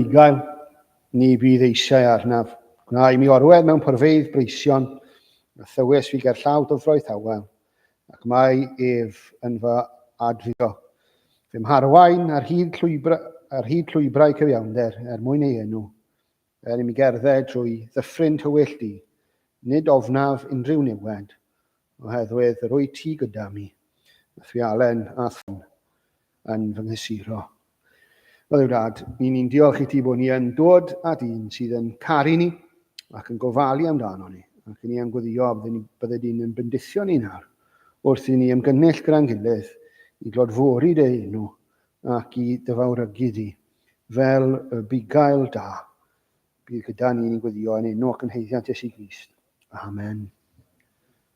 Bugail, ni fydd eisiau arnaf. Gwna i mi orwedd mewn porfeydd breision, a thywys fi gerllaw dyfroeth awel, ac mae ef yn fy adfydo. Fy mharwain ar hyd, llwybra, ar hyd llwybrau cyfiawnder er mwyn ei enw, er i mi gerdded drwy ddyffryn tywyll di, nid ofnaf unrhyw niwed, oherwydd yr wyt ti gyda mi, a thwialen a thwn. yn fy nghysuro. O Dduw Dad, ni ni'n diolch i ti bod ni yn dod â dyn sydd yn caru ni ac yn gofalu amdano ni, ac yn ni am gweddio a bydde di'n yn bendithio ni nawr, wrth i ni ymgynnull gyda'n gilydd i glodfori dy enw ac i dyfawrygu di, fel y bugail da bydd gyda ni ni'n gweddio yn enw ac yn heiddiant Iesu Grist. Amen.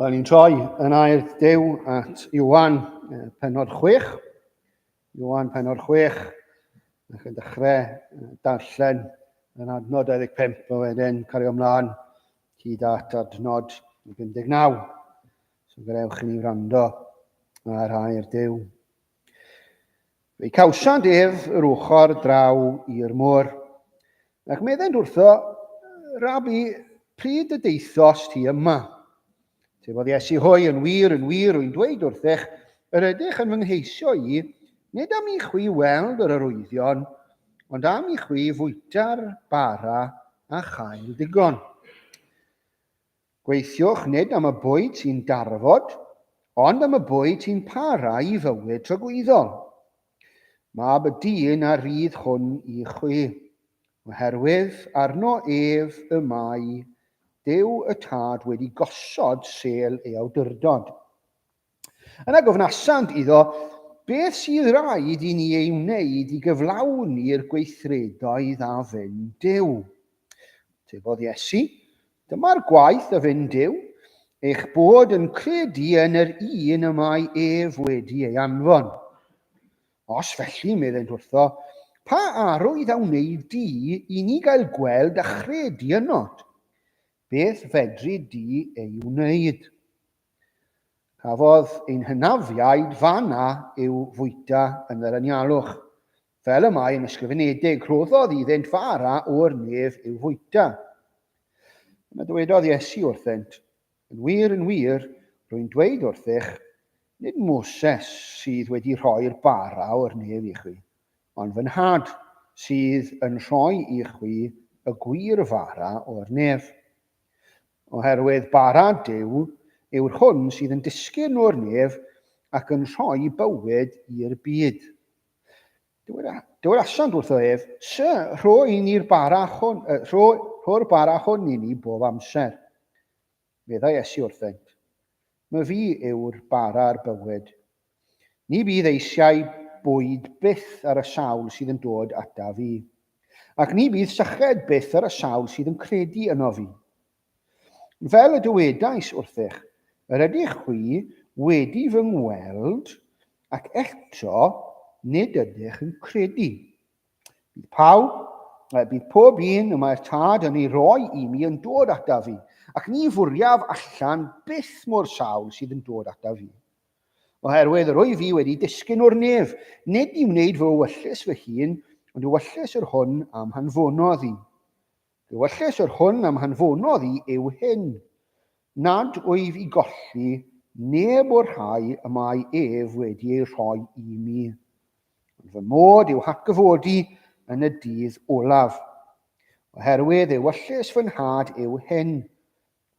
Wel, ni'n troi yn air dew at Iwan penod 6. Iwan penod 6, a chi'n dechrau darllen yn adnod 25 a wedyn cario ymlaen hyd at adnod 59. So gadewch i ni wrando ar air dew Fe cawsant ef yr ochr draw i'r môr. Ac meddent wrtho, Rabi, pryd y deithost ti yma? Tefodd Iesu hwy, yn wir, yn wir, wy'n dweud wrthych, yr ydych yn fy ngheisio i, nid am i chwi weld yr arwyddion, ond am i chwi fwyta'r bara a chael digon. Gweithiwch nid am y bwyd sy'n darfod, ond am y bwyd sy'n para i fywyd tragwyddol. Mab y dyn a rydd hwn i chwi, oherwydd arno ef y mae Duw y Tad wedi gosod sêl ei awdurdod. Yna gofnasant iddo, Beth sydd rhaid i ni ei wneud i gyflawni'r gweithredoedd a fyn Dyw? Tebodd Iesu, Dyma'r gwaith a fyn Dyw, eich bod yn credu yn yr un y mae ef wedi ei anfon. Os felly, meddent wrtho, pa arwydd a wneud di i ni gael gweld a chredu ynot? Beth fedri di ei wneud? Cafodd ein hynafiaid fan'na i'w fwyta yn yr anialwch. Fel y mae yn ysgrifenedig, rhoddodd iddynt fara o'r nef i'w fwyta. Yna dywedodd Iesu wrthynt, Yn wir, yn wir, rwy'n dweud wrthych, nid Moses sydd wedi rhoi'r bara o'r nef i chwi, ond fy Nhad sydd yn rhoi i chwi y gwir fara o'r nef. Oherwydd bara Duw yw'r hwn sydd yn disgyn o'r nef ac yn rhoi bywyd i'r byd. Dywedasant wrtho ef, Sy, rho i ni'r bara hwn, rho, rho'r bara hwn i ni bob amser. Meddai Iesu wrthynt, Mae fi yw'r bara'r bywyd. Ni fydd eisiau bwyd byth ar y sawl sydd yn dod ata fi, ac ni fydd syched byth ar y sawl sydd yn credu yno fi. Fel y dywedais wrthych, yr ydych chwi wedi fy ngweld, ac eto nid ydych yn credu. Bydd pawb, bydd pob un y mae'r tad yn ei roi i mi yn dod ata fi, ac ni fwriaf allan byth mo'r sawl sydd yn dod ata fi. Oherwydd yr wyf fi wedi disgyn o'r nef, nid i wneud fy wyllys fy hun, ond wyllys yr hwn am hanfonodd i. Fy wyllys yr hwn am hanfonodd i yw hyn, nad wyf i golli neb o'r rhai y mae ef wedi eu rhoi i mi, ond fy mod i'w hatgyfodi yn y dydd olaf. Oherwydd ei wyllys fy nhad yw hyn,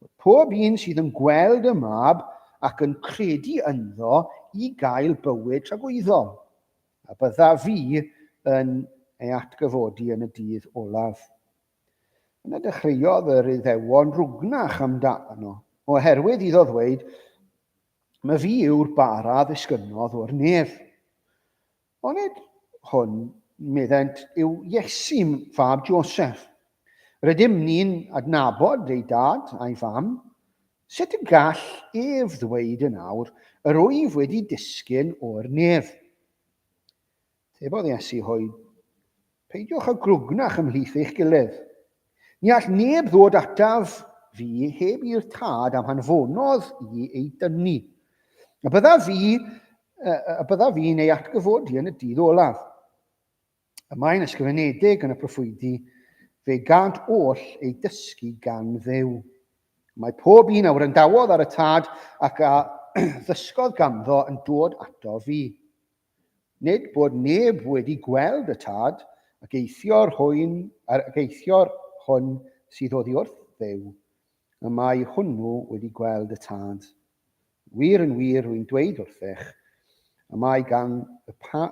Mae pob un sydd yn gweld y Mab ac yn credu ynddo i gael bywyd tragwyddol, a bydda fi yn ei atgyfodi yn y dydd olaf. Yna dechreuodd yr Iddewon rwgnach amdano, oherwydd iddo ddweud, Mae fi yw'r bara ddisgynnodd o'r nef. Onid hwn, meddent, yw Iesu, fab Joseph? Rydym ni'n adnabod ei dad a'i fam. Sut y gall ef ddweud yn awr, Yr wyf wedi disgyn o'r nef? Tebodd Iesu hwy Peidiwch â grwgnach ymhlith eich gilydd. Ni all neb ddod ataf fi heb i'r tad am hanfonodd i ei dynnu. A bydda fi, a bydda fi'n ei atgyfodi yn y dydd olaf. Y mae'n ysgrifenedig yn y proffwydi, fe gant oll ei dysgu gan ddew. Mae pob un a wrandawodd ar y tad ac a ddysgodd ganddo yn dod ato fi. Nid bod neb wedi gweld y tad, ac eithior hwyn, ac eithior hwn sydd oddi wrth Dduw, y mae hwnnw wedi gweld y tad. Wir yn wir rwy'n dweud wrthych, y mae gan y, pa,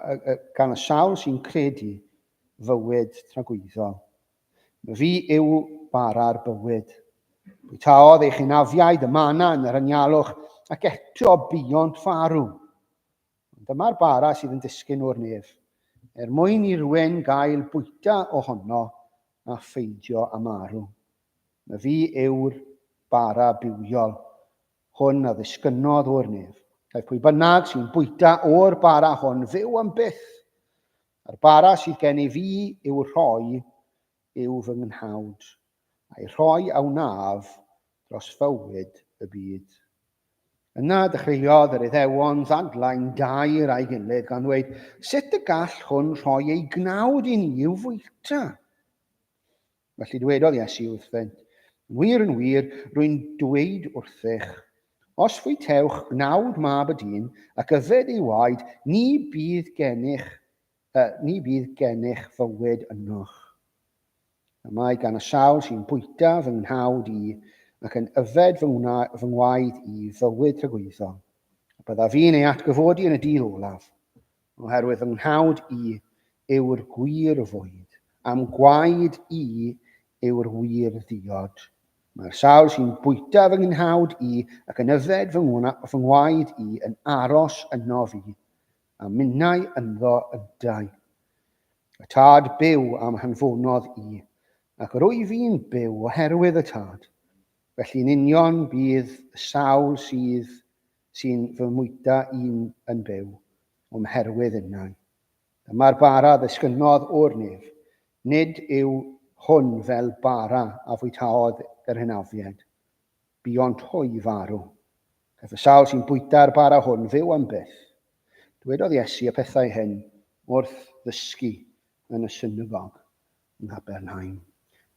gan y sawl sy'n credu fywyd tragwyddol. Mae fi yw bara'r bywyd. Bwytaodd eich hynafiaid y mana yn yr anialwch, ac eto buont farw. Ond dyma'r bara sydd yn disgyn o'r nef, er mwyn i rywun gael bwyta ohono a pheidio â marw. Na fi yw'r bara bywiol hwn a ddisgynnodd o'r nef. Caiff pwy bynnag sy'n bwyta o'r bara hwn fyw am byth, a'r bara sydd gen i fi i'w rhoi yw fy nghnawd, a'i rhoi a wnaf dros fywyd y byd. Yna dechreuodd yr Iddewon ddadlau'n daer â'i gilydd gan ddweud, Sut y gall hwn rhoi ei gnawd i ni i'w fwyta? Felly dwedodd Iesu wrthynt, Yn wir, yn wir, rwy'n dweud wrthych, os fwytewch gnawd mab y dyn ac yfed ei waed, ni bydd gennych, uh, ni bydd gennych fywyd ynoch. Y mae gan y sawl sy'n bwyta fy nghnawd i, ac yn yfed fy ngwaed i, fywyd rhagwyddol, a byddaf i'n ei atgyfodi yn y dydd olaf, oherwydd fy nghnawd i yw'r gwir fwyd, a'm gwaed i yw'r wir ddiod. Mae'r sawl sy'n bwyta fy nghnawd i, ac yn yfed fy ngwaed i, yn aros ynof i, a minnau ynddo yntau. Y tad byw a'm hanfonodd i, ac yr wyf i'n byw oherwydd y tad. Felly yn union bydd y sawl sydd sy'n fy mwyta i'n yn byw, o'm herwydd innau. Dyma'r bara ddisgynnodd o'r nef, nid yw hwn fel bara a fwytaodd yr hynafiaid, Buont hwy farw. Caiff y sawl sy'n bwyta'r bara hwn fyw am byth. Dywedodd Iesu y pethau hyn wrth ddysgu yn y synagog yng Nghapernaum.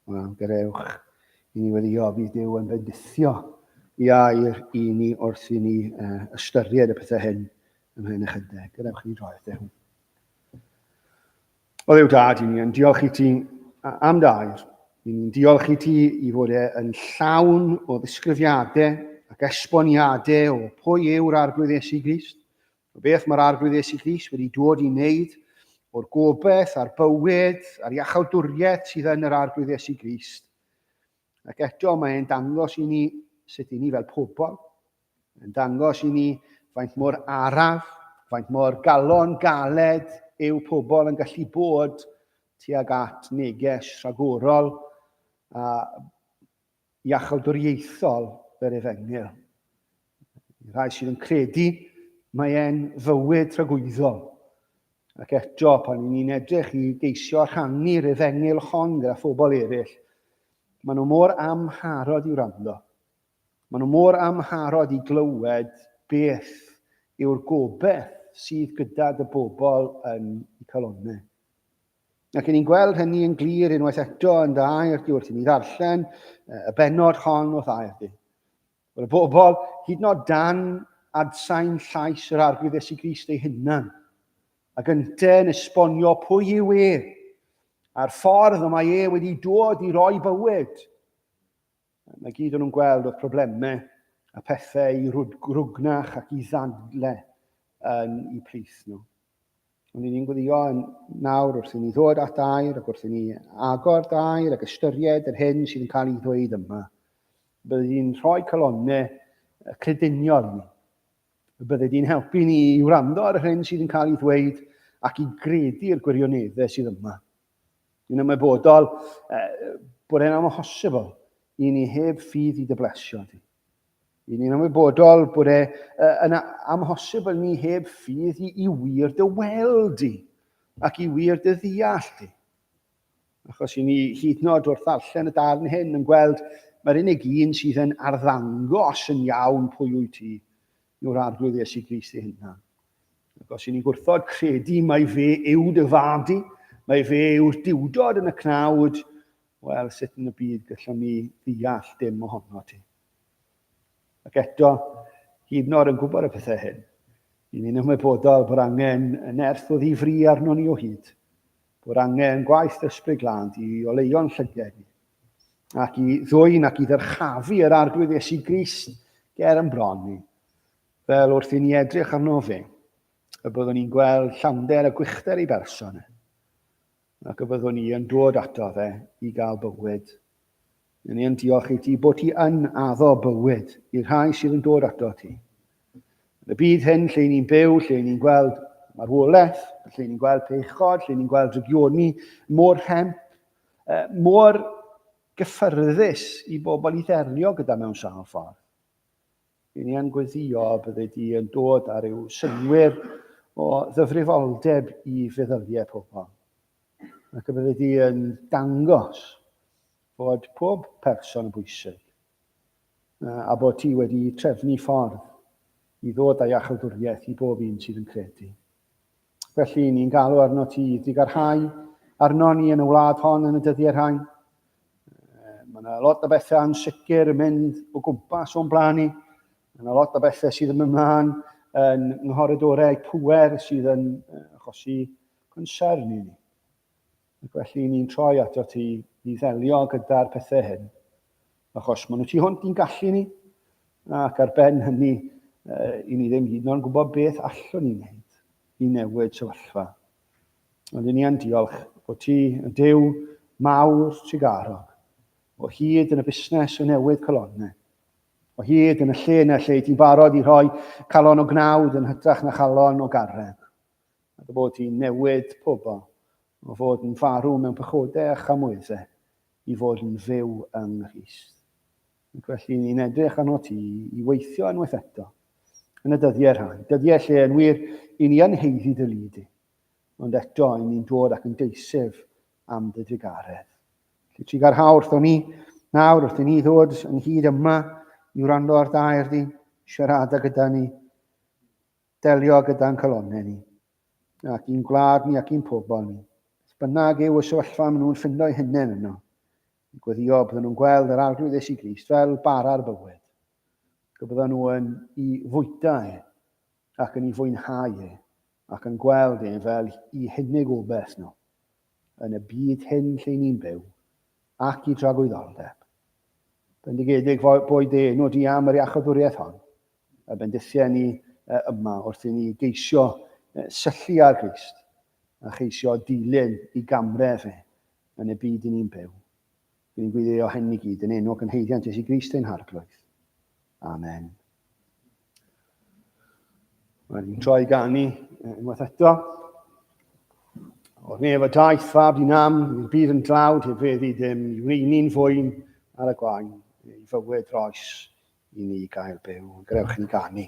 Wel, gadewch i ni weddio, bydd Duw yn bendithio i air i ni wrth i ni uh, ystyried y pethau hyn ymhen ychydig. Gadewch i ni droi at Duw. O Dduw Dad, i ni yn diolch i ti am dair. I ni'n diolch i ti i fod e yn llawn o ddisgrifiadau ac esboniadau o pwy yw'r Arglwydd Iesu Grist, o beth mae'r Arglwydd Iesu Grist wedi dod i wneud, o'r gobeith a'r bywyd a'r iachawdwriaeth sydd yn yr Arglwydd Iesu Grist. Ac eto mae e'n dangos i ni sut i ni fel pobl, Mae'n dangos i ni faint mor araf, faint mor galon galed yw pobl yn gallu bod tuag at neges rhagorol a iachawdwriaethol yr efengyl. Y rhai sydd yn credu mae e'n fywyd tragwyddol. Ac eto, pan ni'n ni'n edrych i geisio rhannu'r efengyl hon gyda phobl eraill, maen nhw mor amharod i wrando. Maen nhw mor amharod i glywed beth yw'r gobaith sydd gyda dy bobl yn y calonnau. Ac yn ni'n gweld hynny yn glir unwaith eto yn dy air di wrth i ni ddarllen y benod hon o'th air di. Wel, y bobl, hyd nod dan adsain llais yr arglwydd Esu Grist ei hunan, ac ynte yn esbonio pwy yw e, a'r ffordd y mae e wedi dod i roi bywyd, Mae gyd o'n nhw'n gweld oedd problemau a pethau i rwgnach ac i ddadle yn y plith nhw. Ond i ni'n gweddio yn nawr wrth i ni ddod at air ac wrth i ni agor dair ac ystyried yr hyn sydd yn cael ei ddweud yma. Bydd hi'n rhoi calonau crediniol ni. Bydd hi'n helpu ni i wrando ar yr hyn sydd yn cael ei ddweud ac i gredu'r gwirioneddau sydd yma. Dwi'n ymwybodol eh, bod e'n amhosibl i ni heb ffydd i dyblesio di. Dwi'n ni'n ymwybodol bod e eh, yn amhosibl ni heb ffydd i, i wir dy weld di ac i wir dy ddeall di. Achos i ni hyd nod wrth ddarllen y darn hyn yn gweld mae'r unig un sydd yn arddangos yn iawn pwy wyt ti yw'r Arglwydd Iesu Grist ei hunan. Ac os y'n ni'n gwrthod credu mae fe yw dy fad i, mae fe yw'r diwdod yn y cnawd, wel, sut yn y byd gallwn ni ddeall dim ohono ti? Ac eto, hyd yn oed yn gwybod y pethau hyn, i ni'n ymwybodol bod angen y nerth o ddifri arno ni o hyd. bod angen gwaith yr Ysbryd Glân i oleuo'n llyged ni, ac i ddwyn ac i ddyrchafu yr Arglwydd Iesu Grist ger yn bron ni, fel wrth i ni edrych arno fe, y byddwn ni'n gweld llawnder a gwychder ei berson e, ac y byddwn ni yn dod ato fe i gael bywyd Yn ein diolch i ti bod ti yn addo bywyd i'r rhai sydd yn dod ato ti. Yn y byd hyn lle ni'n byw, lle ni'n gweld marwolaeth, lle ni'n gweld peichod, lle ni'n gweld rygioni mor rhemp, mor gyffyrddus i bobl i ddelio gyda mewn sawl ffordd. Yn ni yn gweddio bydde di yn dod ar yw synwyr o ddyfrifoldeb i feddyliau pobl. Ac y bydde di yn dangos Bod pob person yn bwysig, a bod ti wedi trefnu ffordd i ddod â iachawdwriaeth i bob un sydd yn credu. Felly, ni'n galw arno ti i ddigarhau arno ni yn y wlad hon yn y dyddiau rhain. Mae yna lot o bethau yn sicr yn mynd o gwmpas o'n blaen ni. Mae yna lot o bethau sydd yn ymlaen yn nghoridorau pwer sydd yn achosi concern i ni. Ac felly ni'n troi ato ti i ddelio gyda'r pethau hyn, achos maen nhw tu hwnt i'n gallu ni, ac ar ben hynny, i ni ddim hyd yn oed gwybod beth allwn ni wneud i newid sefyllfa. Ond i ni yn diolch bod ti yn dew mawr trugarog, o hyd yn y busnes o newid colonnau, o hyd yn y lle yna lle ti'n barod i rhoi calon o gnawd yn hytrach na chalon o garreg. a dy fod hi'n newid pobl o fod yn farw mewn pechodau a chamwyddau i fod yn fyw yng Nghrist. Ac felly ni'n edrych arno ti i weithio unwaith eto yn y dyddiau rhai, dyddiau lle yn wir i ni yn heiddi dy lu di, ond eto i ni'n dod ac yn deisef am dy drugaredd. Lle ti garhau wrthon ni, nawr wrth i ni ddod yn hyd yma i wrando ar dair di, siarada gyda ni, Delio gyda'n calonnau ni, ac i'n gwlad ni ac i'n pobl ni, beth bynnag yw y sefyllfa maen nhw'n ffindo'i hunain yno, i gweddio bydden nhw'n gweld yr Arglwydd Iesu Grist fel bara'r bywyd, y bydden nhw yn i fwyta e, ac yn i fwynhau e, ac yn gweld e fel i hunig obaith nhw, yn y byd hyn lle ni'n byw, ac i dragwyddoldeb. Bendigedig boed ei enw di am yr iachawdwriaeth hon, y bendithiau ni yma wrth i ni geisio syllu ar Grist a cheisio dilyn i gamref e yn y byd i ni'n byw. Dw i'n gwiddeo hyn i gyd yn enw ac yn haeddiant Iesu Grist ein harglwydd. Amen. Mae'n troi gan ni unwaith eto. O'r nef y daeth fab i nam, i'r byd yn dlawd heb feddi dim, i wneud fwyn ar y gwain, ei fywyd roes i ni gael byw. Grewch yn ganu.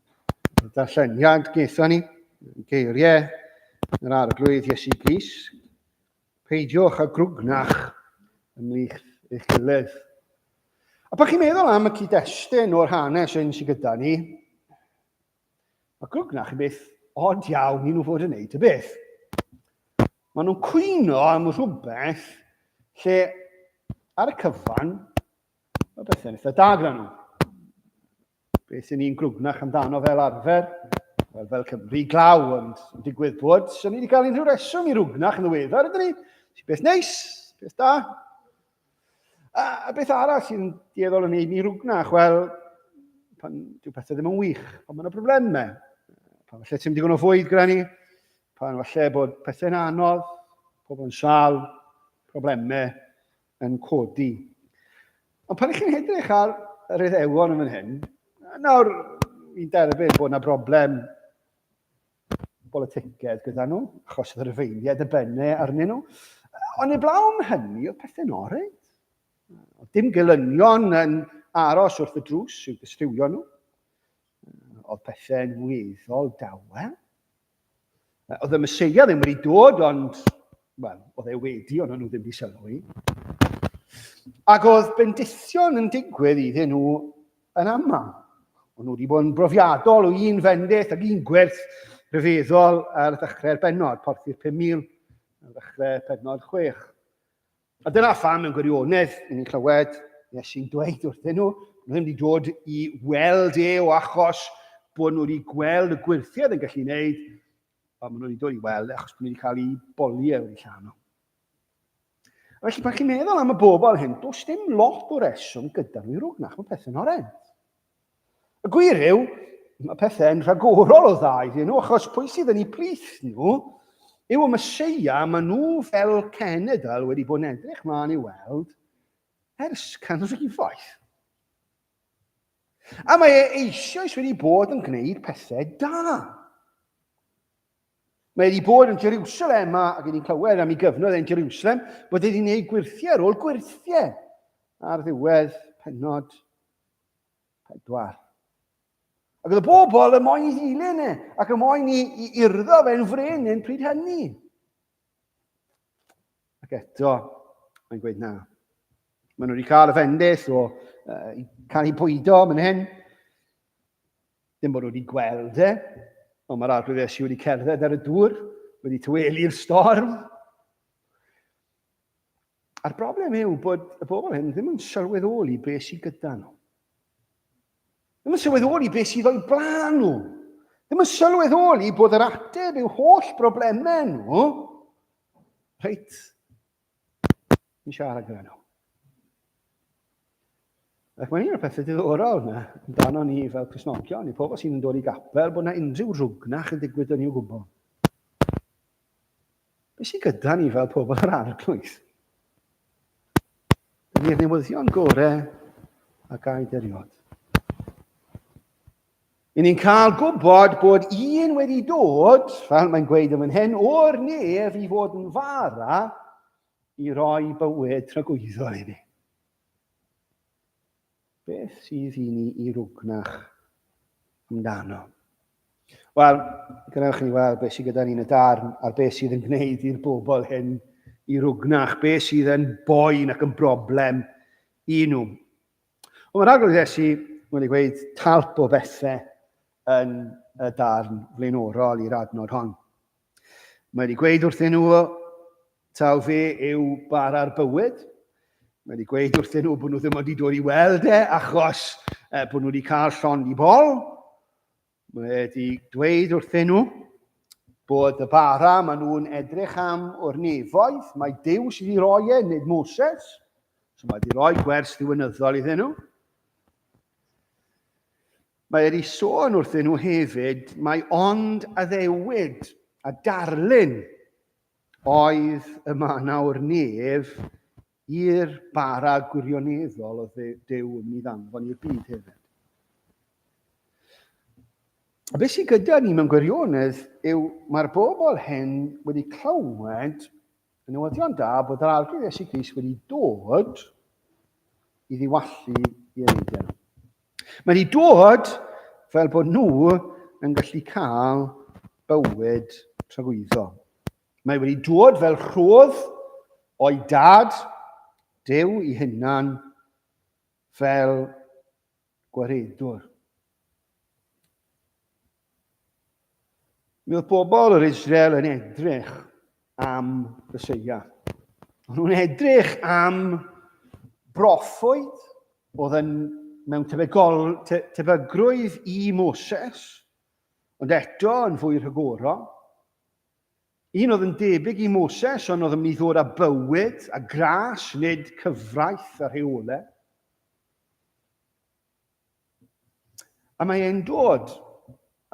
Darlleniad gaethon ni, geiriau yr arglwydd Iesu Gris. Peidiwch a grwgnach ymlith eich gilydd. A pan chi'n meddwl am y cyd-destun o'r hanes hyn sydd gyda ni, mae grwgnach yn beth od iawn i nhw fod yn neud y beth. Maen nhw'n cwyno am rhywbeth lle ar y cyfan mae bethau'n eitha da gyda nhw. Beth i ni'n grwgnach amdano fel arfer? Wel, fel Cymru glaw, ond yn digwydd bod, sy'n ni wedi cael unrhyw reswm i rwgnach yn ddiweddar, ydyn ni? Sy'n beth neis, beth da. A, a beth arall sy'n dieddol yn ei ni rwgnach? Wel, pan dyw pethau ddim yn wych, pan mae'n y problemau, pan falle ti'n digon o fwyd gyda ni, pan falle bod pethau'n anodd, pobl yn sal, problemau, yn codi. Ond pan chi'n edrych ar yr Iddewon yn fan hyn, nawr fi'n derbyn bod yna broblem boliticedd gyda nhw, achos oedd y rhyfeiniaid y benne arnyn nhw. Ond i blawn hynny, oedd pethau'n orau. Oedd dim gelynion yn aros wrth y drws i'w dystiwio nhw. Oedd pethau'n weddol dawel. Oedd y Meseia ddim wedi dod, ond, wel, oedd e wedi, ond nhw ddim wedi sylwi. Ac oedd bendithion yn digwydd iddyn nhw yn aml. Ond nhw wedi bod yn brofiadol o un fendith ac un gwerth rhyfeddol ar ddechrau'r benod, porthi'r 5,000 ar ddechrau penod 6. A dyna pham mewn gwirionedd i ni'n clywed Iesu'n dweud wrthyn nhw, nhw ddim wedi dod i weld e o achos bod nhw wedi gweld y gwirthiau yn gallu gwneud, ond maen nhw wedi dod i weld e achos bod nhw wedi cael eu boliau wedi llawn nhw. Felly, pan chi'n meddwl am y bobl hyn, does dim lot o reswm gyda nhw i rwgnach, mae pethau'n horrend. Y gwir yw, mae pethau'n rhagorol o dda iddyn nhw, achos pwy sydd yn eu plith nhw yw y Meseia maen nhw fel cenedl wedi bod yn edrych mlaen i weld ers canrifoedd. A mae e eisoes wedi bod yn gwneud pethau da. Mae wedi bod yn Jerusalem a gen i'n clywed am ei gyfnod yn Jerusalem bod wedi gwneud gwirthiau ar ôl gwirthiau ar ddiwedd penod Pedwar. Ac oedd y bobl yn moyn i ddilyn e, ac yn moyn i, i urddo fe'n frenin pryd hynny. Ac eto, mae'n gweud na. Maen nhw wedi cael y fendith o uh, cael ei bwydo yn hyn. Dim bod nhw wedi gweld e, ond mae'r arglwydd Iesu wedi cerdded ar y dŵr, wedi tyweli'r storm. A'r broblem yw bod y bobl hyn ddim yn sylweddoli beth sydd gyda nhw. Ddim yn sylweddoli beth sydd o'i blaen nhw. Ddim yn sylweddoli bod yr ateb i'w holl broblemau nhw reit yn siarad gyda nhw. Ac mae'n un o'r pethau diddorol yna, amdano ni fel Cresnogion, i pobl sy'n dod i gapel, bod yna unrhyw rwgnach yn digwydd yn i'w gwybod. Be sy'n gyda ni fel pobl yr arglwydd? Dyn ni'r newyddion gorau a gaid eriod. I ni'n cael gwybod bod un wedi dod, fel mae'n gweud yn hyn, o'r nef i fod yn fara i roi bywyd tragwyddol i ni. Beth sydd i ni i rwgnach amdano? Wel, gwnewch ni weld beth sydd gyda ni yn y darn a'r beth sydd yn gwneud i'r bobl hyn i rwgnach, beth sydd yn boen ac yn broblem i nhw. Ond mae'r agwedd Iesu wedi i gweud talp o bethau yn y darn flaenorol i'r adnod hon. Mae wedi gweud wrthyn nhw taw fe yw bara'r bywyd. Mae wedi gweud wrthyn nhw bod nhw ddim wedi dod i weld e achos e, bod nhw wedi cael llond i bol. Mae wedi dweud wrthyn nhw bod y bara maen nhw'n edrych am o'r nefoedd, mae Dyw sydd wedi rhoi e, nid Moses. So mae wedi rhoi gwers ddiwynyddol iddyn nhw. Mae wedi sôn wrthyn nhw hefyd mai ond addewid a darlun oedd y manawr nef i'r bara gwirioneddol oedd Duw yn mynd i ddanfon i'r byd hefyd. A beth sydd gyda ni mewn gwirionedd yw mae'r bobl hyn wedi clywed Y newyddion da bod yr Arglwydd Iesu Grist wedi dod i ddiwallu i eneiddiau nhw. Mae wedi dod fel bod nhw yn gallu cael bywyd tragwyddo. Mae wedi dod fel rhodd o'i dad, Dew i hunan, fel gwaredwr. Mi oedd pobl yr Israel yn edrych am Fyseia. Ond nhw'n edrych am broffoedd oedd yn mewn tebygol, te, tebygrwydd i Moses, ond eto yn fwy rhagorol. Un oedd yn debyg i Moses, ond oedd yn mynd i ddod â bywyd a gras, nid cyfraith a rheolau. A mae e'n dod.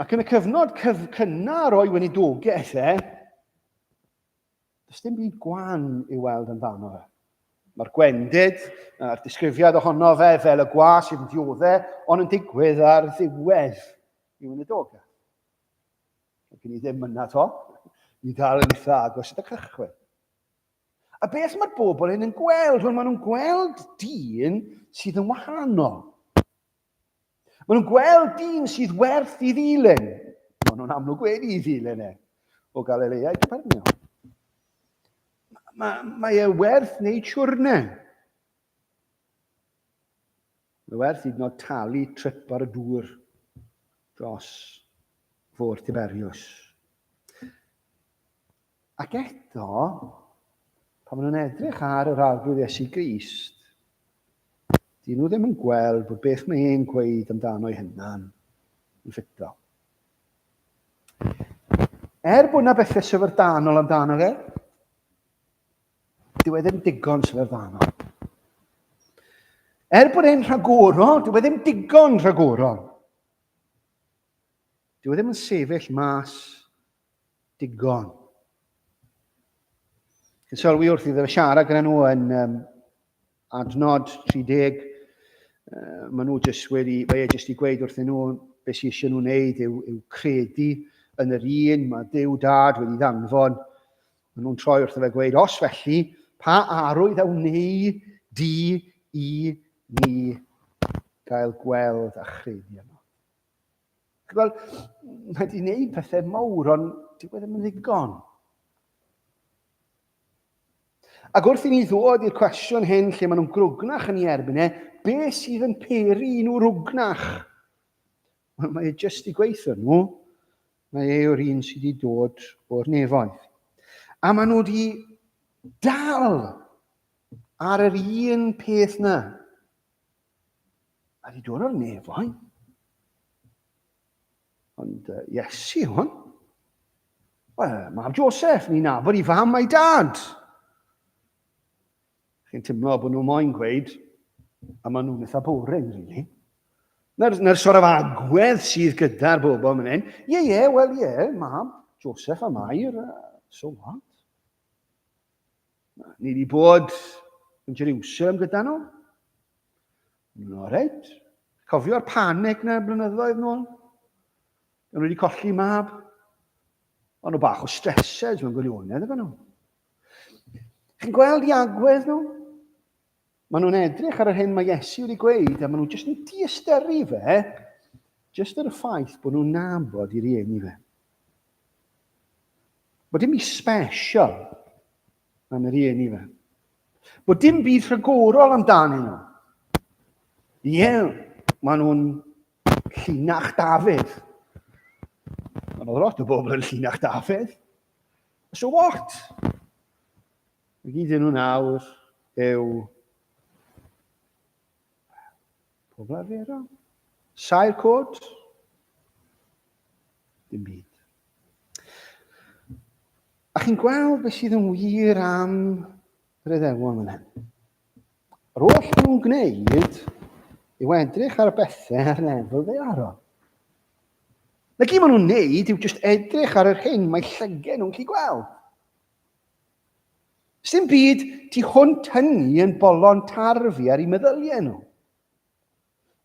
Ac yn y cyfnod cyf cynnar o'i weinidogaeth e, does dim byd gwan i weld amdano fe. Mae'r gwendid a'r disgrifiad ohono fe fel y gwa sydd yn diodde, ond yn digwydd ar ddiwedd i wneud oga. Mae gen i ddim yna to, i dal yn eitha agos at y cychwyn. A beth mae'r bobl hyn yn gweld? Wel, maen nhw'n gweld dyn sydd yn wahanol. Maen nhw'n gweld dyn sydd werth i ddilyn. Maen nhw'n amlwg wedi i ddilyn e o Galilea i Capernaum. Mae, mae e werth wneud siwrne. Mae werth hyd yn oed talu trip ar y dŵr dros fôr Tiberius. Ac eto, pan maen nhw'n edrych ar yr Arglwydd Iesu Grist, dyn nhw ddim yn gweld bod beth mae e'n gweud amdano'i hunan yn ffito. Er bod yna bethau syfrdanol amdano fe, dyw e ddim digon syfrdanol. Er bod e'n rhagorol, dyw e ddim digon rhagorol. Dyw e ddim yn sefyll mas digon. Yn sylwi wrth iddo fe siarad gyda nhw yn um, adnod 30, uh, maen nhw jyst wedi, fe e jyst i gweud wrth nhw beth sy'n eisiau nhw wneud yw, yw credu yn yr un mae Dyw Dad wedi ddanfon. Maen nhw'n troi wrth fe gweud, os felly, pa arwydd a wneu di i ni gael gweld a chredu yno. Wel, mae wedi gwneud pethau mawr, ond dyw e ddim yn ddigon. Ac wrth i ni ddod i'r cwestiwn hyn lle maen nhw'n grwgnach yn ei erbyn e, be sydd yn peri nhw rwgnach? Wel, mae e jyst i gweithio nhw. Mae e o'r un sydd wedi dod o'r nefoedd. A maen nhw wedi dal ar yr un peth na. A di dod o'r nefoedd. Ond uh, Iesu hwn. Wel, mab Joseph, ni'n nabod i fam a'i dad. Chi'n teimlo bod nhw moyn gweud, a maen nhw'n eitha boring, really. Na'r, na'r sort of agwedd sydd gyda'r bobl yn hyn. Ie, yeah, ie, yeah, wel, ie, yeah, mab, Joseph a Mair, uh, so what? Ni wedi bod yn Jerusalem gyda nhw. Nhw'n oreit. Cofio'r panic na blynyddoedd nôl? Nhw wedi colli mab. Ond o bach o stresses mewn gwirionedd efo nhw. Chi'n gweld i agwedd nhw? Maen nhw'n edrych ar yr hyn mae Iesu wedi gweud a maen nhw jyst yn diysteri fe, jyst ar y ffaith bod nhw'n nabod i rieni fe. Bod dim byd special am yr rieni fe. Bod dim byd rhagorol amdanyn nhw. Ie, maen nhw'n llinach Dafydd. Maen nhw lot o bobl yn llinach Dafydd. So what? Mae gyda nhw nawr yw pob arferol, sail cod, dim byd. A chi'n gweld beth sydd yn wir am yr eddewon yn hyn. Yr oll nhw'n gwneud yw edrych ar y bethau ar lefel ddearol. Na gyd maen nhw'n neud yw just edrych ar yr hyn mae llygen nhw'n chi gweld. Sdim byd tu hwnt hynny yn bolon tarf i ar i meddyliau nhw.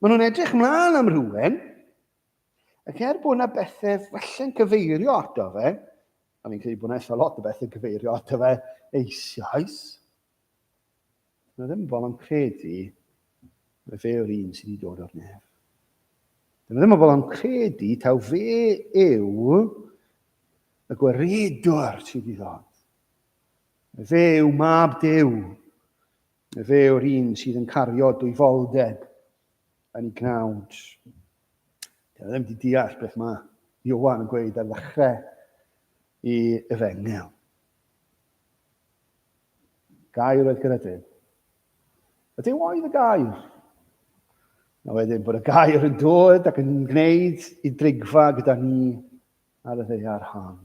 Maen nhw'n edrych mlaen am rhywun, ac er bod yna bethau falle'n cyfeirio ato fe, a fi'n credu bod yna eitha lot o bethau cyfeirio ato fe eisoes, Mae ddim yn bobl yn credu mae fe yw'r un sydd wedi dod o'r nef. Mae ddim yn bobl yn credu taw fe yw y gwaredwr sydd wedi ddod. Mae fe yw mab Dyw. Mae fe yw'r un sydd yn cario dwyfoldeb yn ei gnawd. Dyna ddim wedi deall beth mae Iowan yn gweud ar ddechrau i efengel. Gair oedd Cynedyn. Ydy oedd y gair? Na wedyn bod y gair yn dod ac yn gwneud i drigfa gyda ni ar y ddeiar hon.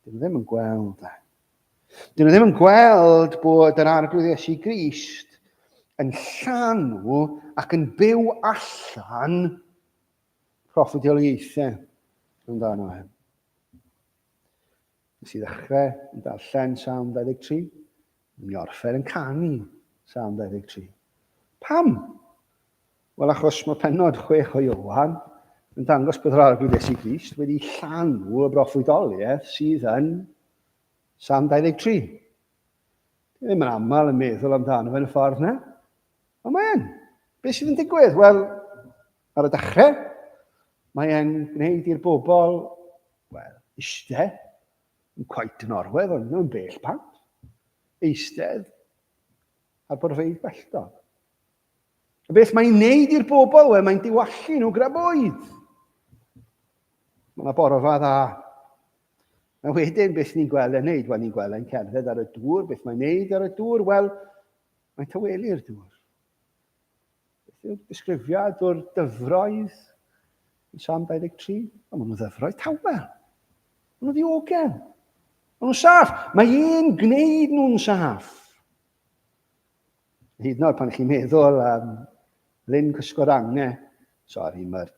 Dyn nhw ddim yn gweld e. Dyn nhw ddim yn gweld bod yr arglwydd Iesu Grist yn llanw ac yn byw allan proffedioliaethau amdano e. Nes i ddechrau yn darllen Salm 23, yn i orffen yn canu Salm 23. Pam? Wel, achos mae penod chwech o Iowan yn dangos bod yr arglwydd Iesu Grist wedi llanw y broffwydoliaeth sydd yn Salm 23. Dwi ddim yn aml yn meddwl amdano fe yn y ffordd yna. Ond mae e'n. Be sydd yn digwydd? Wel, ar y dechrau, mae e'n gwneud i'r bobl Wel, iste, yn cweit yn orwedd ond mewn bell pant, eistedd ar borfeydd belltog. A beth mae'n neud i'r bobl? Wel, mae'n diwallu nhw graboedd. Mae yna borfa dda. A wedyn, beth ni'n gweld yn neud? Wel, ni'n gweld yn cerdded ar y dŵr. Beth mae'n neud ar y dŵr? Wel, mae'n tawelu'r dŵr. Beth yw'r disgrifiad o'r dyfroedd yn Sam 23? O, maen nhw'n ddyfroedd tawel. Maen nhw'n ddiogel. Maen nhw'n saff. Mae un gwneud nhw'n saff. Hyd yn oed pan chi'n meddwl am um, Lyn Cysgorange, sori, mae'r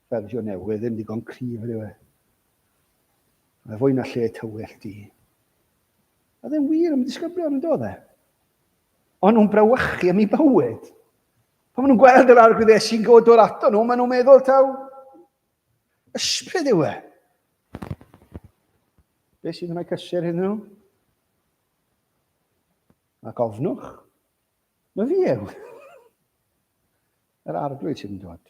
fersiwn newydd ddim digon cryf rhyw e. Mae fwy na lle tywyll di. A ddim wir am disgyblion yn dod e. Ond nhw'n brawychu am ei bywyd. Pan maen nhw'n gweld yr arglwydd Iesu'n god o'r ato nhw, maen nhw'n meddwl taw ysbryd yw e. Be sy'n gwneud cysur hyn nhw? Ac ofnwch, mae fi yw. Yr arglwydd sydd yn dod.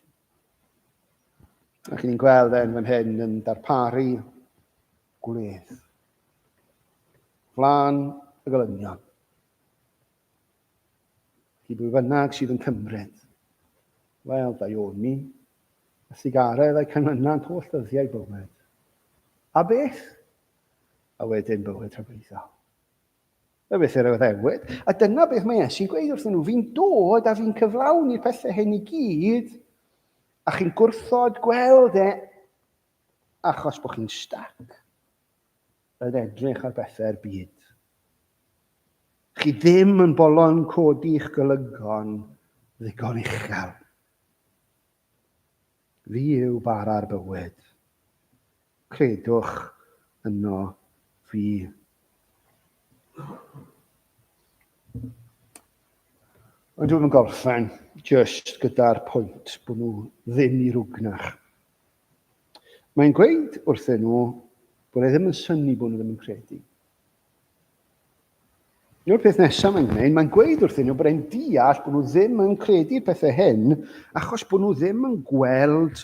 A chi'n gweld e'n fan hyn yn darparu gwledd. Flan y golynion. Chi bwy fynnag sydd yn cymryd. Wel, da Ioni, y sigaredd a'i canlynnant holl ddyddiau bywyd. A beth? A wedyn bywyd rhyfeddol. Y beth yr Iddewyd. A dyna beth mae Iesu'n gweud wrthyn nhw, fi'n dod a fi'n cyflawni'r pethau hyn i gyd, a chi'n gwrthod gweld e achos bod chi'n stac yn edrych ar bethau'r byd. Chi ddim yn bolon codi'ch golygfon ddigon uchel. Fi yw bara'r bywyd. Credwch yno fi. Ond dwi'n yn gorffen just gyda'r pwynt bod nhw ddim i rwgnach. Mae'n gweud wrthyn nhw bod e ddim yn syni bod nhw ddim yn credu. Dyna'r peth nesaf mae'n gwneud, mae'n gweud wrthyn nhw bod e'n deall bod nhw ddim yn credu'r pethau hyn achos bod nhw ddim yn gweld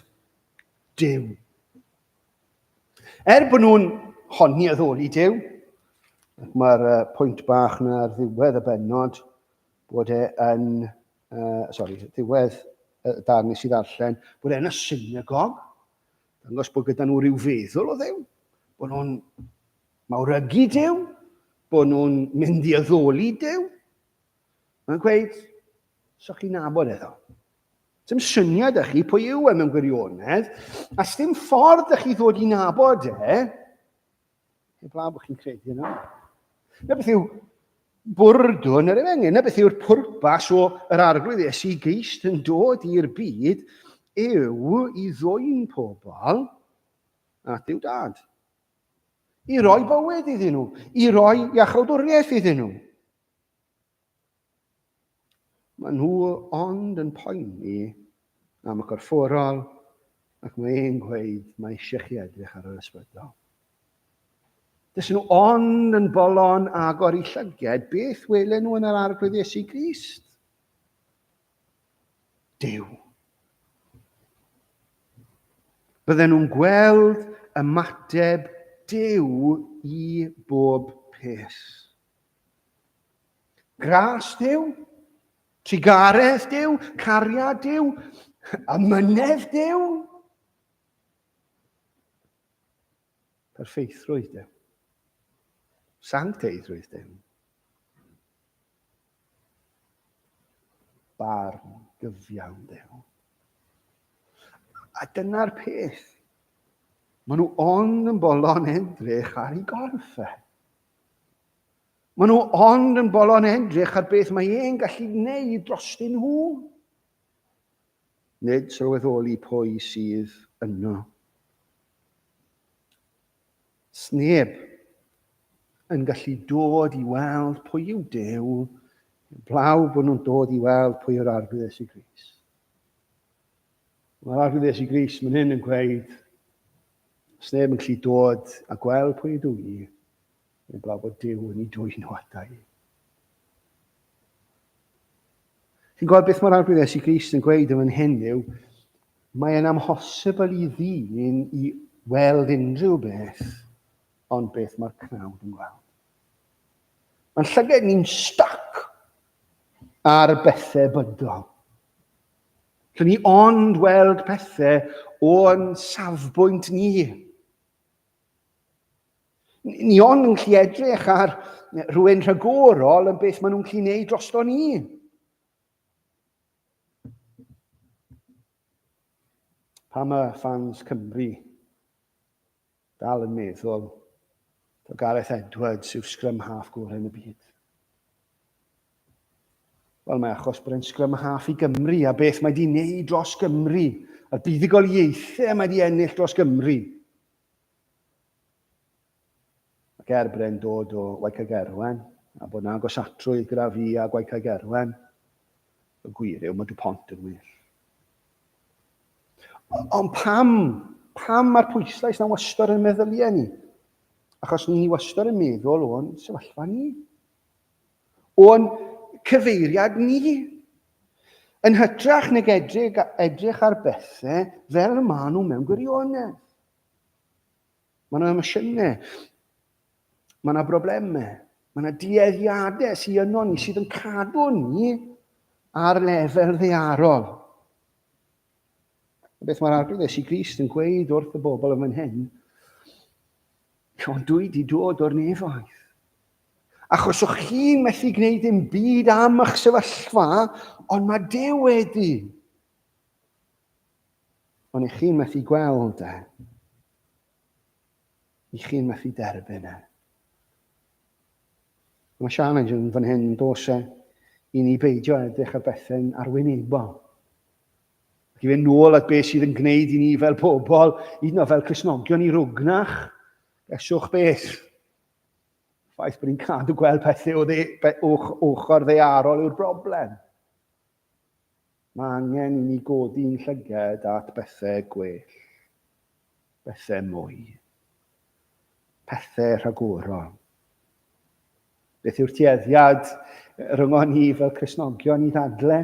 Dyw. Er bod nhw'n honni addoli Dyw, ac mae'r uh, pwynt bach na ar ddiwedd y benod bod e yn, uh, sorry, ddiwedd y darn nes i ddarllen, bod e'n y synagog, dangos bod gyda nhw rhyw feddwl o ddew, bod nhw'n mawrygu Duw, bod nhw'n mynd i addoli Duw. Mae'n gweud, so chi'n nabod edo. Dim syniad â chi pwy yw e mewn gwirionedd, a sdim ffordd â chi ddod i nabod e, heb law bod chi'n credu yno. Na beth yw bwrdwn yr efengyl, na beth yw'r pwrpas o yr arglwydd Iesu Grist yn dod i'r byd yw i ddwy'n pobl at yw dad. I roi bywyd iddyn nhw, i roi iachawdwriaeth iddyn nhw. Mae nhw ond yn poeni am y corfforol ac mae e'n gweud mae eisiau chi edrych ar yr ysbrydol. Dys nhw ond yn bolon agor i llyged beth welen nhw yn yr arglwydd Iesu Grist. Duw. Bydden nhw'n gweld ymateb Duw i bob peth. Gras Duw, trugaredd Duw, cariad Duw, amynedd Duw. Perfeithrwydd Duw. Sancteiddrwydd Duw. Barn gyfiawn Duw. A dyna'r peth. Maen nhw ond yn bolon edrych ar ei gorff e. Maen nhw ond yn bolon edrych ar beth mae e'n gallu gwneud drostyn nhw. Nid sylweddoli pwy sydd yno. Sneb yn gallu dod i weld pwy yw Dew, blaw bod nhw'n dod i weld pwy yw'r arglwyddes i Gris. Mae'r arglwyddes i Gris mynd hyn yn gweud, sneb yn gallu dod a gweld pwy ydw i, Yn blaw bod Duw yn ei dwyn o adau. Chi'n gweld beth mae'r arglwydd Iesu Grist yn gweud yn fan hyn yw, mae e'n amhosibl i ddyn i weld unrhyw beth ond beth mae'r cnawd yn gweld. Mae'n llyged ni'n stac ar bethau bydol. Rydyn ni ond weld pethau o'n safbwynt ni. Ni ond yn gallu edrych ar rhywun rhagorol yn beth maen nhw'n gallu gwneud drosto ni. Pa mae fans Cymru dal yn meddwl bod Gareth Edwards yw'r sgrym half gorau yn y byd? Wel, mae achos bod e'n sgrym a haff i Gymru a beth mae di wneud dros Gymru, a'r buddugoliaethau mae di ennill dros Gymru. Ac er bod e'n dod o Waicag Erwen, a bod na agosatrwydd gyda fi a Gwaicag Erwen, y gwir yw mae dy pont yn well. Ond pam? Pam mae'r pwyslais na wastod yn meddyliau ni? Achos ni wastod yn meddwl o'n sefyllfa ni. O'n cyfeiriad ni. Yn hytrach nag edrych, edrych ar bethau fel y maen nhw mewn gwirionedd. Mae yna emosiynau, mae yna broblemau, mae yna dueddiadau sy'n yno ni sydd yn cadw ni ar lefel ddearol. Beth mae'r arglwydd Iesu Grist yn gweud wrth y bobl yn fan hyn? Ond dwi wedi dod o'r nefaeth. Achos o'ch chi'n methu gwneud dim byd am eich sefyllfa, ond mae Dyw wedi. Ond eich chi'n methu gweld e. i chi'n methu derbyn e. Mae challenge yn fan hyn yn dos e i ni beidio edrych ar bethau'n arwynebol. Ac i fynd nôl at beth sydd yn gwneud i ni fel pobl, hyd yn fel Cresnogion i rwgnach, eswch beth. Ffaith bod ni'n cadw gweld pethau o dde, ochr ddearol yw'r broblem. Mae angen i ni godi'n llyged at bethau gwell, bethau mwy, pethau rhagorol. Beth yw'r tueddiad ryngon ni fel Cresnogion i ddadle?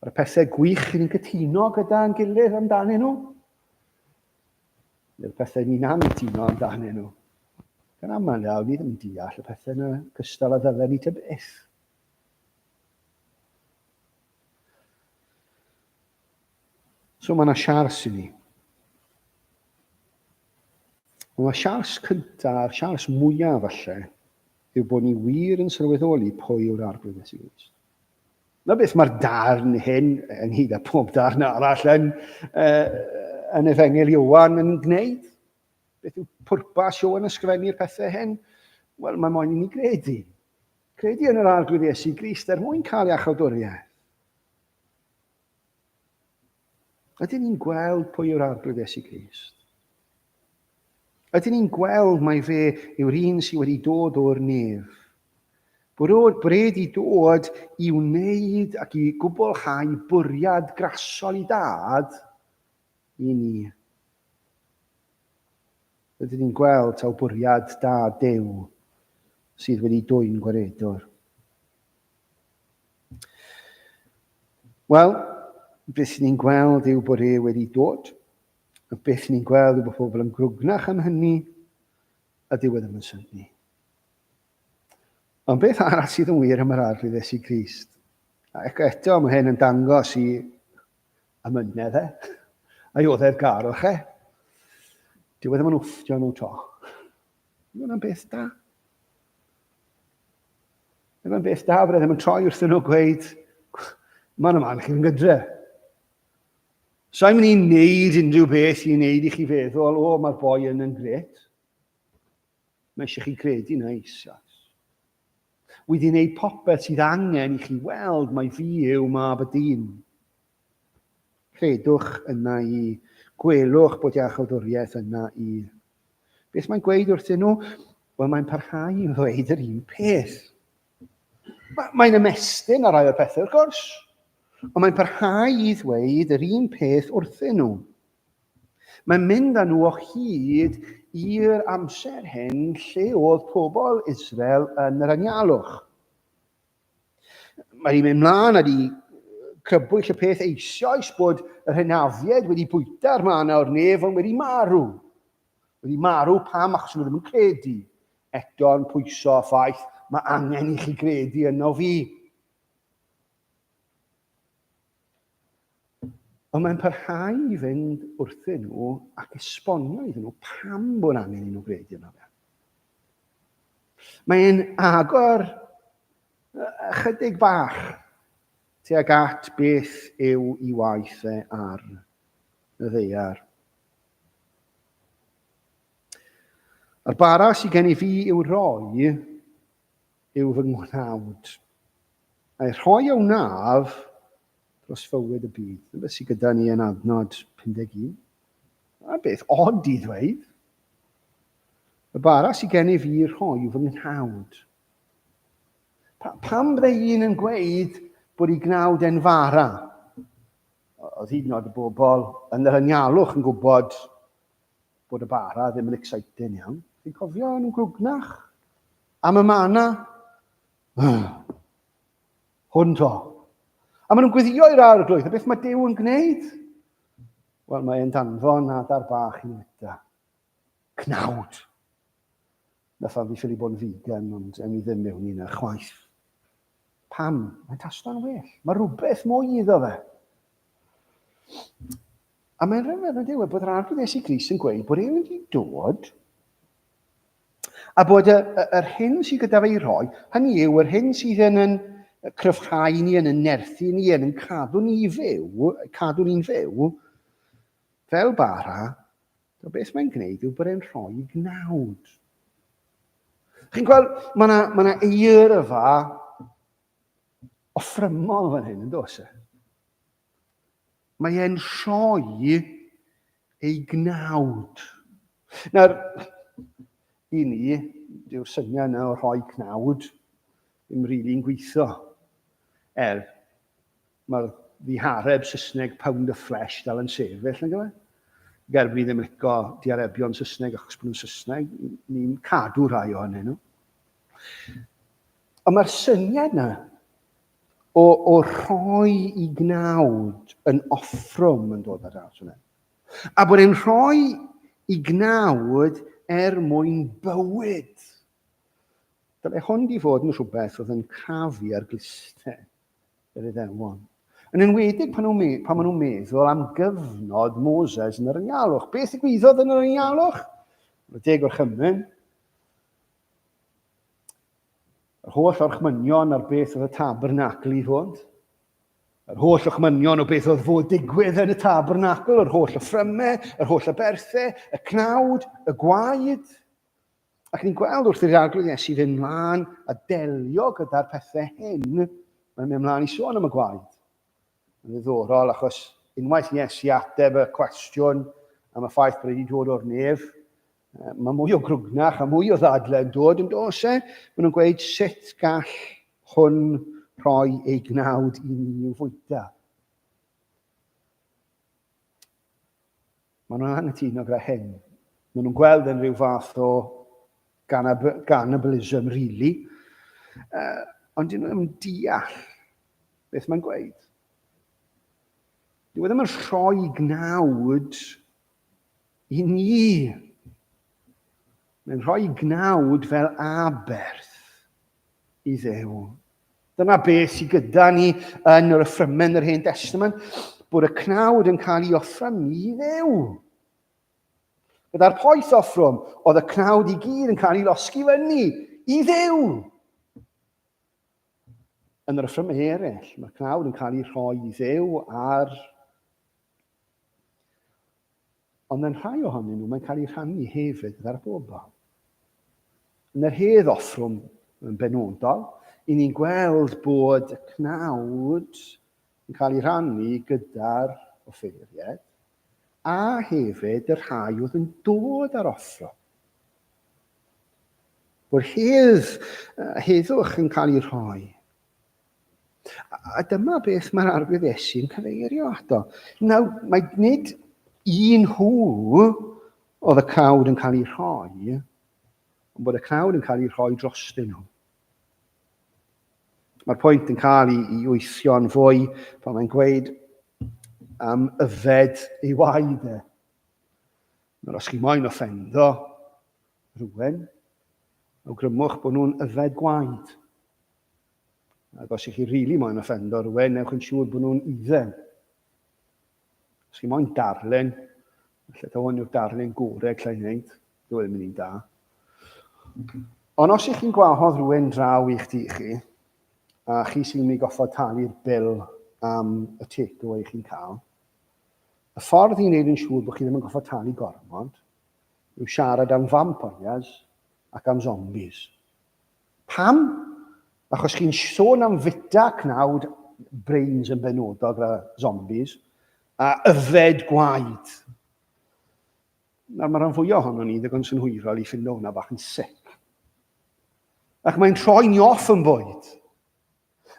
Ar y pethau gwych ni'n cytuno gyda'n gilydd amdanyn nhw? Neu'r pethau ni'n anghytuno amdanyn nhw? Gan aml iawn, ni ddim yn deall y pethau yna gystal a ddylen ni tybeth. So mae yna siars i ni. Ond mae siars cyntaf, a'r siars mwyaf falle, yw bod ni wir yn sylweddoli pwy yw'r arglwydd Iesu Grist. Na beth mae'r darn hyn, ynghyd â pob darn arall yn, uh, yn Efengel Iwan yn gwneud. Beth yw pwrpas Sioen ysgrifennu'r pethau hyn? Wel, mae moyn i ni gredu. Credu yn yr Arglwydd Iesu Grist er mwyn cael iachawdwriaeth. Ydyn ni'n gweld pwy yw'r Arglwydd Iesu Grist? Ydyn ni'n gweld mai fe yw'r un sydd wedi dod o'r nef? Bwrwyd bred i dod i wneud ac i gwblhau bwriad grasol i dad i ni. Rydyn ni'n gweld taw bwriad da Duw sydd wedi dwyn gwaredwr. Wel, beth ni'n gweld yw bod e wedi dod. A beth ni'n gweld yw bod pobl yn grwgnach am hynny, a dyw e ddim yn syni. Ond beth arall sydd yn wir am yr arglwyddes i Grist? Ac eto, mae hyn yn dangos i Am yne dde. Ai oddef gar o che? Dyw e ddim yn wfftio nhw to. Mae hwnna'n beth da. Mae hwnna'n beth da, byddai ddim yn troi wrthyn nhw gweud, mae'n yma yn chi'n gydre. Sa'n mynd i wneud unrhyw beth i wneud i chi feddwl, o, mae'r boi yn yn gret. Mae eisiau chi gredu na isas. Wyf i'n ei popeth sydd angen i chi weld mai fi yw mab y dyn. Credwch yna i, gwelwch bod iachawdwriaeth yna i. Beth mae'n gweud wrthyn nhw? Wel, mae'n parhau i ddweud yr un peth. Mae'n ymestyn ar rai o'r pethau, wrth gwrs, ond mae'n parhau i ddweud yr un peth wrthyn nhw. Mae'n mynd â nhw o hyd i'r amser hyn lle oedd pobl Israel yn yr anialwch. Mae hi'n mynd mlaen â di crybwyll y peth eisoes bod yr hynafiaid wedi bwyta'r man a'r nef ond wedi marw. Wedi marw pam achos nhw ddim yn credu. Eto'n pwyso a ffaith, mae angen i chi gredu yno fi. Ond mae'n parhau i fynd wrthyn nhw ac esbonio iddyn nhw pam bod angen i nhw gwneud yno fe. Mae'n agor ychydig bach tuag at beth yw i waith e ar y ddeiar. A'r bara sydd gen i fi yw roi yw fy ngwnaud. A'i rhoi a wnaf dros fywyd y byd. Yn beth sydd gyda ni yn adnod 51. A beth od i ddweud. Y bara sydd gennyf i rhoi yw fy nghnawd. Pa, pam bydde un yn gweud bod ei gnawd e'n fara? Oedd hyd yn oed y bobl yn yr anialwch yn gwybod bod y bara ddim yn exciting iawn. Chi'n cofio yn gwgnach? Am y mana? Hwn to. A maen nhw'n gwyddio i'r arglwydd, a beth mae Dyw yn gwneud? Wel, mae e'n danfon adar bach i fwyta. Cnawd. Na ffarm fi ffili bod yn vegan ond ewn ni ddim mewn i hynna chwaith. Pam? Mae'n tasto'n well. Mae rhywbeth mwy iddo fe. A mae'n rhyfedd yn dweud bod yr arglwydd Iesu Gris yn gweud bod e'n mynd i dod a bod yr, yr hyn sydd gyda fe i roi, hynny yw yr hyn sydd yn yn cryfhau ni, yn yn nerthu ni, yn yn cadw ni fyw, cadw ni'n fyw, fel bara, So beth mae'n gwneud yw bod e'n rhoi gnawd. Chi'n gweld, mae yna ma, na, eirfa offrymol fan hyn, yn dos e? Mae e'n rhoi ei gnawd. Nawr, i ni, dyw'r syniad yna o rhoi cnawd ddim rili'n really gweithio. Er, Mae'r ddihareb Saesneg pound of flesh dal yn sefyll, nag yw e? Ger bod ni ddim yn lico diarebion Saesneg achos bod nhw'n Saesneg, ni'n cadw rhai ohonyn nhw. Ond mae'r syniad yna o, o rhoi i gnawd yn offrwm yn dod ar draws hwnna. A bod e'n rhoi i gnawd er mwyn bywyd. Dyle hwn di fod yn rhywbeth oedd yn crafu ar gliste. yr Iddewon. Yn enwedig pan nhw'n pan maen nhw'n meddwl am gyfnod Moses yn yr yngalwch. Beth ddigwyddodd yn yr yngalwch? Yn y deg o'r chymryn, yr holl orchmynion ar beth oedd y tabernacl i fod, yr holl orchmynion o beth oedd fod digwydd yn y tabernacl, yr holl offrymau, yr holl aberthau, y cnawd, y gwaed, Ac ni'n gweld wrth i'r arglwydd Iesu fynd mlaen a delio gyda'r pethau hyn, mae'n mynd mlaen i sôn am y gwaed. Yn ddiddorol, achos unwaith i Iesu ateb y cwestiwn am y ffaith bod wedi dod o'r nef, mae mwy o grwgnach a mwy o ddadle yn dod yn dos e. Mae nhw'n gweud sut gall hwn rhoi ei gnawd i ni i'w fwyta. Maen nhw'n anghytuno gyda hyn. Maen nhw'n gweld yn rhyw fath o cannibalism, really. Uh, ond dyn nhw ddim yn deall beth mae'n gweud. Dwi ddim yn rhoi gnawd i ni. Mae'n rhoi gnawd fel aberth i Dduw. Dyna beth sydd gyda ni yn yr yffrymen yr Hen Testament, bod y cnawd yn cael ei offra ni i Dduw. Gyda'r poeth offrwm, oedd y cnawd i gyd yn cael ei losgi fyny i Dduw. Yn yr yffrymen eraill, mae'r cnawd yn cael ei rhoi i Dduw ar Ond mewn rhai ohonyn nhw, mae'n cael ei rhannu hefyd gyda'r bobl. Yn yr hedd offrwm yn benodol, i ni'n gweld bod y cnawd yn cael ei rannu gyda'r offeiriaid, a hefyd y rhai oedd yn dod ar offro. Bod hedd, heddwch yn cael ei rhoi A dyma beth mae'r arwydd Iesu'n cyfeirio ato. Nawr, mae nid un hw oedd y cnawd yn cael ei rhoi, ond bod y cnawd yn cael ei rhoi dros dyn nhw. Mae'r pwynt yn cael ei, ei weithio'n fwy pan mae'n gweud am yfed ei waed e. Nawr, os chi moyn offendo rhywun, awgrymwch bod nhw'n yfed gwaed. Ac os ych chi rili really moyn offendo rhywun, newch yn siŵr bod nhw'n idden. Os chi moyn darllen, lle ta hwn yw'r darllen gore allai wneud, dyw e ddim yn un da. Ond os ych chi'n gwahodd rhywun draw i'ch di chi, a chi sy'n mynd i goffod talu'r bil am y tic o eich chi'n cael, y ffordd i wneud yn siŵr bod chi ddim yn goffod talu gormod yw siarad am vampires ac am zombies. Pam? Achos chi'n sôn am fita cnawd brains yn benodol gyda zombies, a yfed gwaed. Nawr mae rhan fwyaf ohono ni ddigon synhwyrol i ffindo hwnna bach yn sic. Ac mae'n troi ni off yn bwyd.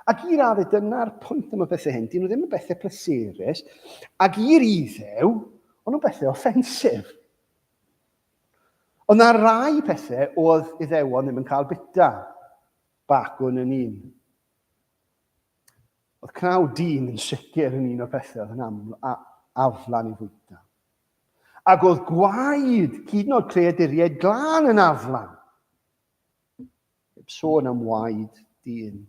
Ac i raddau, dyna'r pwynt am y bethau hyn. Dyn nhw ddim yn bethau pleserus, ac i'r iddew, ond nhw'n bethau offensif. Ond ar rai pethau oedd Iddewon ddim yn cael bita. Bacwn yn un. Oedd cnaw dyn yn sicr yn un o'r pethau oedd yn aml, a, aflan i fwyta. Ac oedd gwaed, hyd yn oed creaduriaid glân yn aflan. Heb sôn am waed dyn.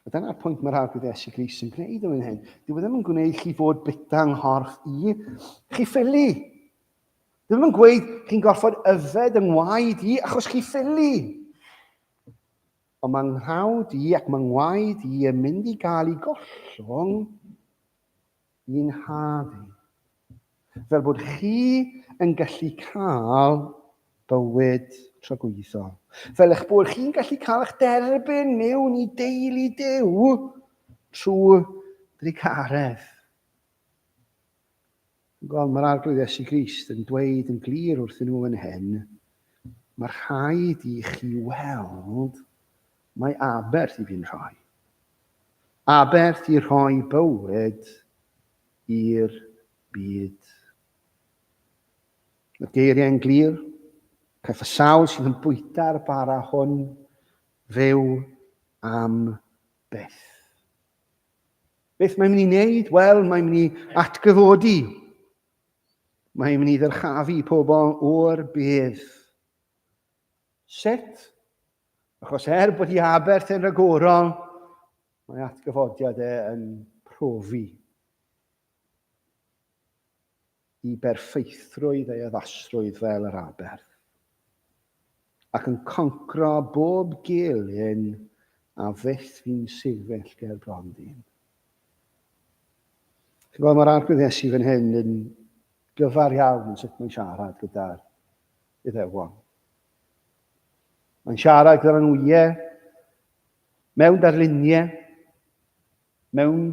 A dyna'r pwynt mae'r arglwydd Iesu Gris yn gwneud yn hyn. Dyw e ddim yn gwneud chi fod bita yng nghorff i chi ffili. Dyw e ddim yn gweud chi'n gorfod yfed yng ngwaed i achos chi ffili. Ond mae nghawd i ac mae ngwaed i yn mynd i gael ei gollwng i'n nhad i, fel bod chi yn gallu cael bywyd tragwyddol, fel eich bod chi'n gallu cael eich derbyn mewn i deulu Duw trwy drugaredd. Wel, mae'r arglwydd Iesu Grist yn dweud yn glir wrthyn nhw yn hyn, mae rhaid i chi weld Mae aberth i fi'n rhoi. Aberth i rhoi bywyd i'r byd. Mae'r geiriau yn glir. Caiff y sawl sydd yn bwyta'r bara hwn fyw am beth. Beth mae'n mynd i wneud? Wel, mae'n mynd i atgyfodi. Mae'n mynd i ddyrchafu pobl o'r bedd. Sut? Achos er bod hi aberth yn rhagorol, mae atgyfodiad e yn profi i berffeithrwydd ei addasrwydd fel yr aberth, ac yn concro bob gelyn a fyth fi'n sefyll ger bron ddyn. Chi'n gweld, mae'r arglwydd Iesu fan hyn yn gyfar iawn yn sut mae'n siarad gyda'r Iddewon. Mae'n siarad gyda nhw, ie, mewn darluniau, mewn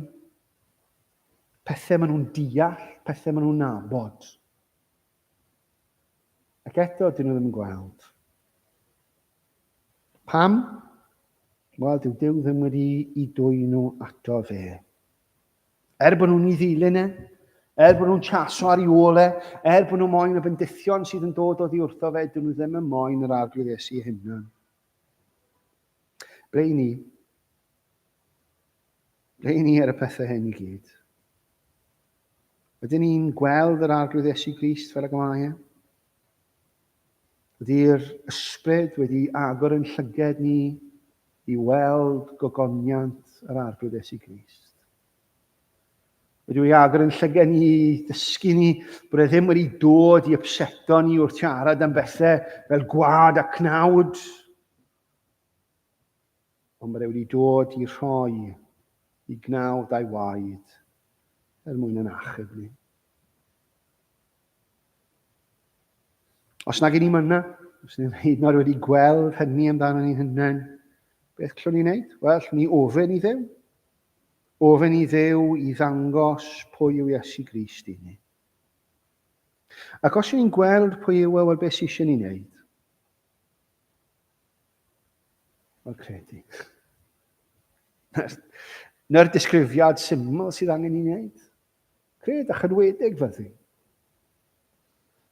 pethau maen nhw'n deall, pethau maen nhw'n nabod. Ac eto, dyn nhw ddim yn gweld. Pam? Wel, dyw Dyw ddim wedi i dwy'n nhw ato fe. Er bod nhw'n ei ddilyn e, er bod nhw'n chaso ar ei ôl e, er bod nhw moyn y bendithion sydd yn dod oddi wrtho fe, dyn nhw ddim yn moyn yr arglwydd Iesu ei hunan. Ble i ni? Ble i ni ar y pethau hyn i gyd? Ydyn ni'n gweld yr arglwydd Iesu Grist fel y gymau e? Ydy'r Ysbryd wedi agor ein llyged ni i weld gogoniant yr Arglwydd Iesu Grist? Wedi ei agor yn llyged ni i dysgu ni bod e ddim wedi dod i ypseto ni wrth siarad am bethau fel gwad a cnawd, ond bod e wedi dod i rhoi i gnawd a'i waed er mwyn yn achub ni. Os nag i ni myna, os ni'n hyd nod wedi gweld hynny amdano ni'n hynna'n, beth llwn ni'n neud? Wel, llwn ni ofyn i ddew. Ofyn i ddew i ddangos pwy yw Iesu Grist i ni. Ac os ni'n gweld pwy yw e, wel, beth sy'n eisiau ni'n neud? Wel, credu. Na'r disgrifiad syml sydd angen i wneud. Cred a chynwedig fyddi.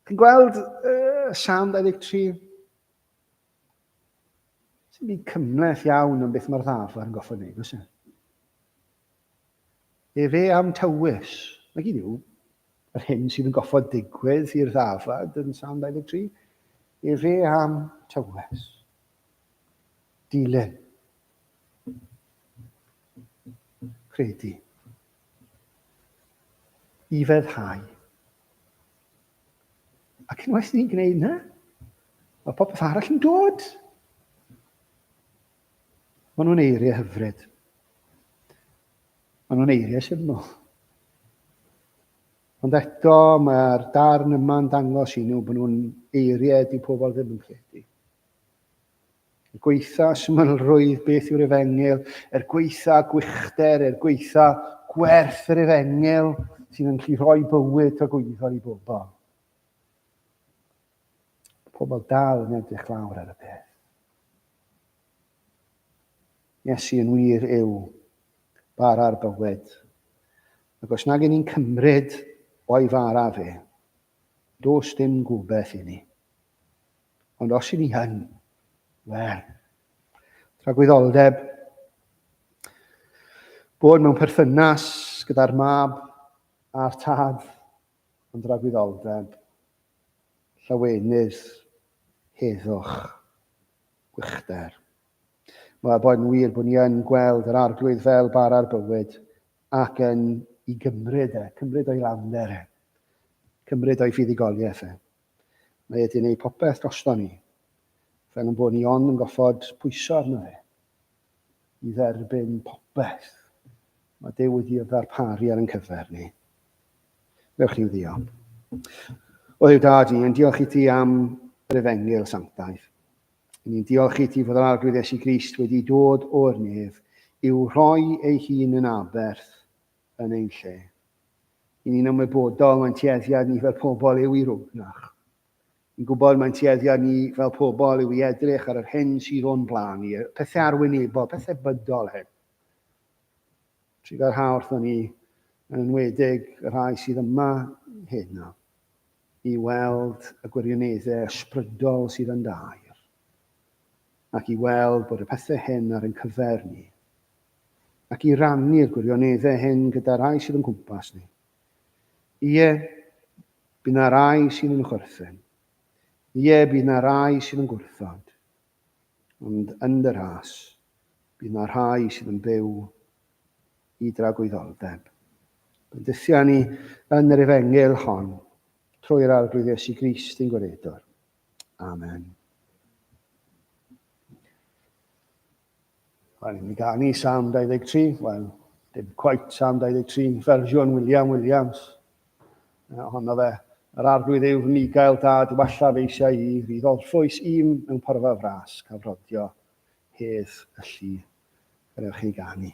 Chi'n gweld uh, Sam 23? Sy'n mynd cymleth iawn am beth mae'r ddafod yn goffa wneud, oes e? Efe am tywys. Mae gyd yw yr hyn sydd yn goffa digwydd i'r ddafod yn Sam 23. Efe am tywys. Dilyn. Credu. i feddhau. Ac unwaith ni'n gwneud yna, mae popeth arall yn dod. Maen nhw'n eiriau hyfryd. Maen nhw'n eiriau syml. Ond eto, mae'r darn yma'n dangos i nhw bod nhw'n eiriau di pobl ddim yn credu. Er gwaetha symlrwydd, beth yw'r efengyl? Er gwaetha gwychder, er gwaetha gwerth yr efengyl sy'n yn gallu rhoi bywyd tragwyddol i bobl. Pobl dal yn edrych lawr ar y peth. Iesu yn wir yw bara'r bywyd. Ac os nag ni'n cymryd o'i fara fe, dos dim gobeith i ni. Ond os i ni hyn, wel, tragwyddoldeb bod mewn perthynas gyda'r mab a'r tad yn dragwyddoldeb llawenydd heddwch gwychder. Mae bod yn wir bod ni yn gweld yr arglwydd fel bar ar bywyd ac yn i gymryd e, cymryd o'i lawnder e, cymryd o'i fuddugoliaeth e. Mae wedi gwneud popeth drosto ni, fel yn bod ni ond yn goffod pwyso arno fe i dderbyn popeth mae Duw wedi ddarparu ar ein cyfer ni. Dewch ni'n ddiolch. O Dduw Dad i, yn diolch i ti am yr efengil sanctaidd. Ni'n diolch i ti fod yr arglwydd Esu Grist wedi dod o'r nef i'w rhoi ei hun yn aberth yn ein lle. I ni'n ymwybodol mae'n tueddiad ni fel pobl yw i rwgnach. Ni'n gwybod mae'n tueddiad ni fel pobl yw i edrych ar yr hyn sydd o'n blaen ni, y pethau arwynebol, pethau bydol hyn. Tri gael rhaw wrthyn ni, yn enwedig y rhai sydd yma hyn nawr, i weld y gwirioneddau ysbrydol sydd yn dair, ac i weld bod y pethau hyn ar ein cyfer ni, ac i rannu'r gwirioneddau hyn gyda rhai sydd o'n cwmpas ni. Ie, bydd na rai sy'n yn chwerthin. Ie, bydd na rai sy'n yn gwrthod. Ond yn dy rhas, bydd na rhai sydd yn byw i dragwyddoldeb. Bendithia ni yn yr efengil hon, trwy'r arglwydd Iesu Grist ein gwaredwr. Amen. Wel, ni'n mynd ganu Sam 23, wel, dim quite Sam 23, fersiwn William Williams. Ohono fe, yr arglwydd yw fy migael dad, walla fe eisiau i fi ddolffwys un mewn porfa fras, cafrodio, hedd, y llu. Gwnewch chi ganu.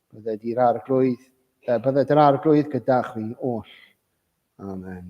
Bydded i'r arglwydd, uh, bydded yr arglwydd gyda chwi oll. Amen.